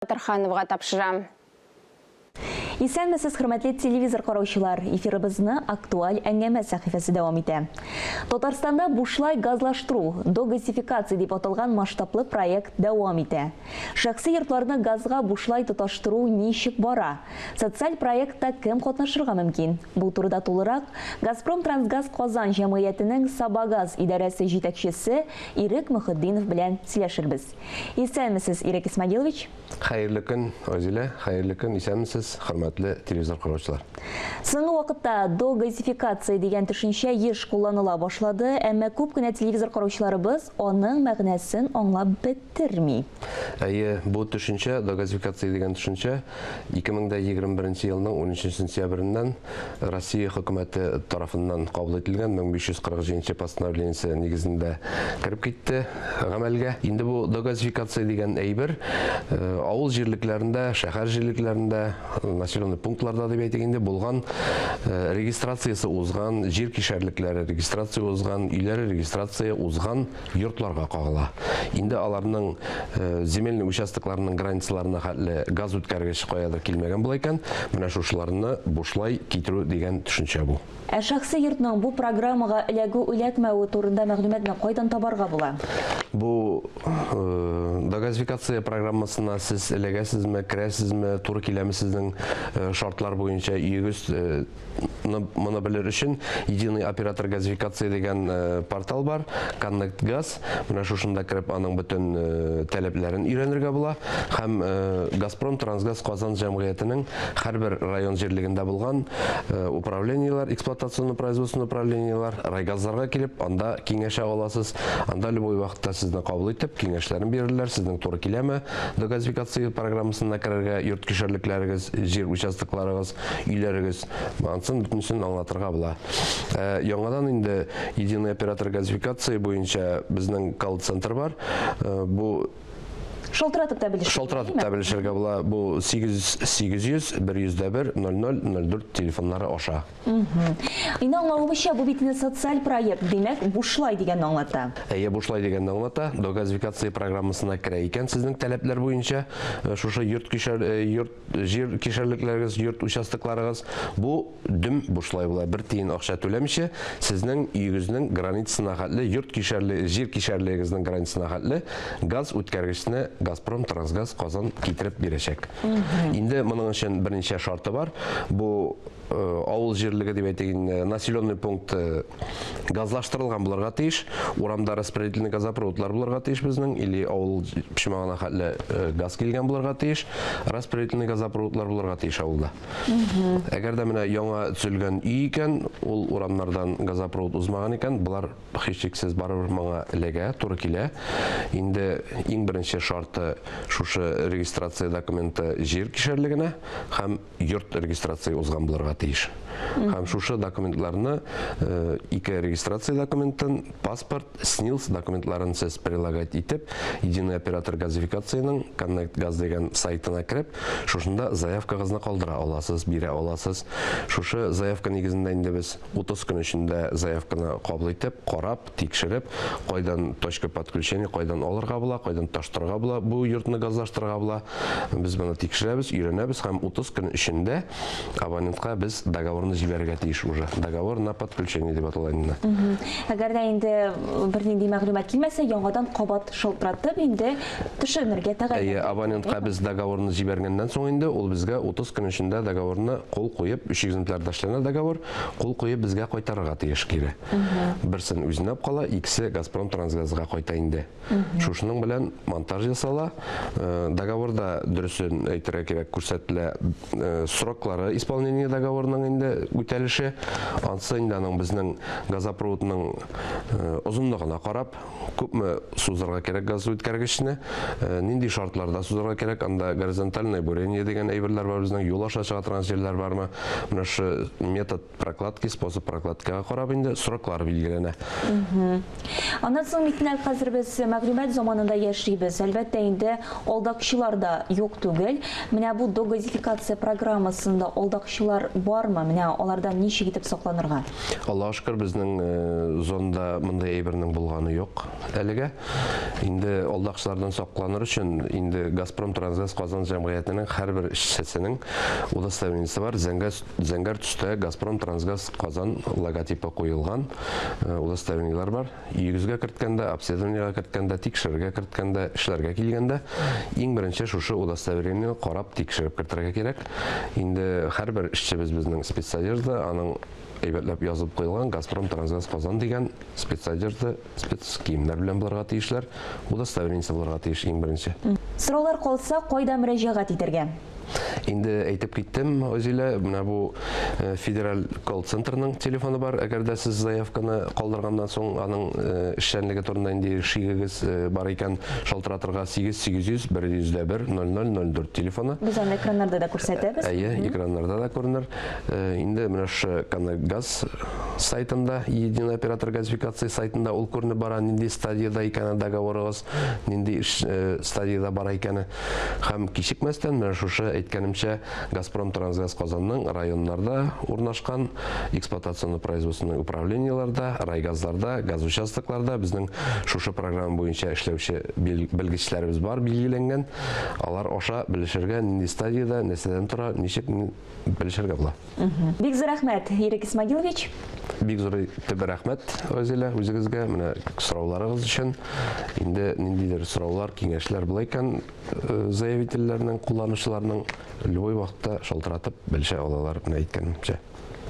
Батырхановга тапшырам. Исәнмесез, хөрмәтле телевизор караучылар! Эфирыбызны Актуаль әңгәмә сәхифәсе дәвам итә. Татарстанда бушлай газлаштыру, догазификация дип аталган масштаблы проект дәвам итә. Шәхси йортларны газга бушлай тоташтыру ничек бара? Социаль проектта кем катнашырга мөмкин? Бу турыда тулырак Газпромтрансгаз Казан җәмгыятенең Сабагаз идарәсе җитәкчесе Ирек Мөхетдинов белән сөйләшербез. Исәнмесез, Ирек Исмагилович. Хәерле көн, Розилә. Хәерле көн, исәнмесез, хөрмәтле телевизор караучылар. Соңгы вакытта догазификация дигән төшенчә еш кулланыла башлады, әмма күп кенә телевизор караучыларыбыз аның мәгънәсен аңлап бетерми. Әйе, бу төшенчә, догазификация дигән төшенчә, 2021 елның 13 сентябреннән Россия хөкүмәте тарафыннан кабул ителгән 1547 постановлениесе нигезендә кереп китте гамәлгә. Инде бу догазификация дигән әйбер э, авыл җирлекләрендә, шәһәр җирлекләрендә, населенный пунктларда дип әйтик инде булган э, регистрациясе узган, җир кишәрлекләре регистрация узган, өйләре регистрация узган йортларга кагыла. Инде аларның э, земельный участокларының границаларына хәтле газ үткәргеч каядыр килмәгән була икән, менә шушыларны бушлай китерү дигән төшенчә бу. Ә шәхси йортның бу программага эләгү-эләкмәве турында мәгълүматны кайдан табарга була? Бу э, догазификация программасына сез эләгәсезме, керәсезме, туры киләме сезнең э, шартлар буенча өегез э, моны белер өчен единый оператор газификации дигән э, портал бар connect газ менә шушында кереп аның бөтен э, таләпләрен өйрәнергә була һәм э, газпром трансгаз казан җәмгыятенең һәрбер район җирлегендә булган управлениелар эксплуатационный производственный управлениелар райгазларга килеп анда киңәшә аласыз анда любой вакытта сезне кабул итеп киңәшләрен бирерләр сезнең туры киләме догазификация программасына керергә йорт кишәрлекләрегез җир участокларыгыз Өйләрегез ансын бөтенесен аңлатырга була. Ә, яңадан инде единый оператор газификация буенча безнең колл-центр бар. Ә, бу Шалтыратып та белешергә. Шалтыратып та белешергә була. Бу 8800 101 00 04 телефоннары аша. Инде аңлавымча, бу бит социаль проект, димәк, бушлай дигәнне аңлата. Әйе, бушлай дигәнне аңлата. Догазификация программасына керә икән сезнең таләпләр буенча, э, шушы йорт кишәр, э, йорт Җир кишәрлекләрегез, йорт участокларыгыз, бу дөм бушлай була. Бер тиен акча түләмичә, сезнең өегезнең границасына хәтле, йорт кишәрле, җир кишәрлегегезнең границасына хәтле газ үткәргечне Газпром Трансгаз Казан китереп бирәчәк. Инде моның өчен берничә шарты бар. Бу Э, авыл җирлеге дип әйтик инде населенный пункты газлаштырылган булырга тиеш урамда распределительный газопроводлар булырга тиеш безнең или авыл почмагына хәтле э, газ килгән булырга тиеш распределительный газопроводлар булырга тиеш авылда әгәр дә менә яңа төзелгән өй икән ул урамнардан газопровод узмаган икән болар һичшиксез барыбер моңа эләгә туры килә инде иң беренче шарты шушы регистрация документы җир кишәрлегенә һәм йорт регистрация узган булырга тиеш. Һәм шушы документларны э, ике регистрация документын, паспорт, СНИЛС документларын сез прилагать итеп, единый оператор газификацияның Connect Gaz дигән сайтына кереп, шушында заявкагызны калдыра аласыз, бирә аласыз. Шушы заявка нигезендә инде без 30 көн эчендә заявканы кабул итеп, карап, тикшереп, кайдан точка подключения, кайдан алырга була, кайдан таштырга була, бу йортны газлаштырга була. Без моны тикшерәбез, өйрәнәбез һәм 30 көн эчендә абонентка без договорны җибәрергә тиеш уже. Договор на подключение дип атала инде. Әгәр дә инде бернинди мәгълүмат килмәсә, яңадан кабат шалтыратып инде төшеренергә тәгаен. Әйе, абонентка без договорны җибәргәннән соң инде ул безгә 30 көн эчендә договорны кул куеп, өч экземплярда эшләнә договор, кул куеп безгә кайтарырга тиеш кире. Берсен үзенә кала, икесе Газпром Трансгазга кайта инде. Шушының белән монтаж ясала. Э, договорда дөресен әйтергә кирәк күрсәтелә э, сроклары исполнение договорының инде үтәлеше. Ансы инде аның безнең газопроводның э, озынлыгына карап, күпме сузырга кирәк газ үткәргечне, нинди шартларда сузырга кирәк, анда горизонтальное бурение дигән әйберләр бар безнең, юл аша чыга торган җирләр бармы? Менә шу метод прокладки способ прокладкага карап инде сроклар билгеләнә аннан соң митнәл хәзер без мәгълүмат заманында яшибез әлбәттә инде алдакчылар да юк түгел менә бу догазификация программасында алдакчылар бармы менә алардан ничек итеп сакланырга аллага шөкер безнең э, зонда мындай әйбернең булганы юк әлегә инде алдакчылардан сакланыр өчен инде газпром трансгаз казан җәмгыятенең һәрбер эшчесенең удостоверениесе бар зәңгәс Зәңгәр төстә Газпром Трансгаз Казан логотипы куелган э, удостоверениеләр бар. Йөгезгә керткәндә, обследованиега керткәндә, тикшерергә керткәндә, эшләргә килгәндә иң беренче шушы удостоверениене карап тикшереп кертергә кирәк. Инде һәрбер эшчебез безнең спецодежда, аның әйбәтләп язып куелган Газпром Трансгаз Казан дигән спецодежда Спецкиемнәр белән булырга тиешләр, удостоверениесе булырга тиеш иң беренче. Сораулар калса, кайда мөрәҗәгать итәргә? Инде әйтеп киттем, Озилә, менә бу э, федераль колл-центрның телефоны бар. Әгәр дә сез заявканы калдырганнан соң аның э, эшчәнлеге турында инде шигегез э, бар икән, шалтыратырга 8 800 100 дә 1 0004 телефоны. Без аны экраннарда да күрсәтәбез. Әйе, экраннарда да күренер. Э, инде менә шушы газ сайтында единый оператор газификации сайтында ул күренеп бара нинди стадияда икәне договорыгыз нинди э, стадияда бара икәне һәм кичекмәстән менә шушы әйткәнемчә газпром трансгаз казанның районнарда урнашкан эксплуатационный производственный управлениеларда райгазларда газ участокларда безнең шушы программа буенча эшләүче белгечләребез бар билгеләнгән алар аша белешергә нинди стадияда нәрсәдән тора ничек белешергә була. Бик зур рәхмәт, Ирек Исмагилович. Бик зур төбе рәхмәт, Розилә, үзегезгә менә сорауларыгыз өчен. Инде ниндидер сораулар, киңәшләр була икән, э, заявительләрнең, кулланучыларның любой вакытта шалтыратып белешә алалар, менә әйткәнемчә.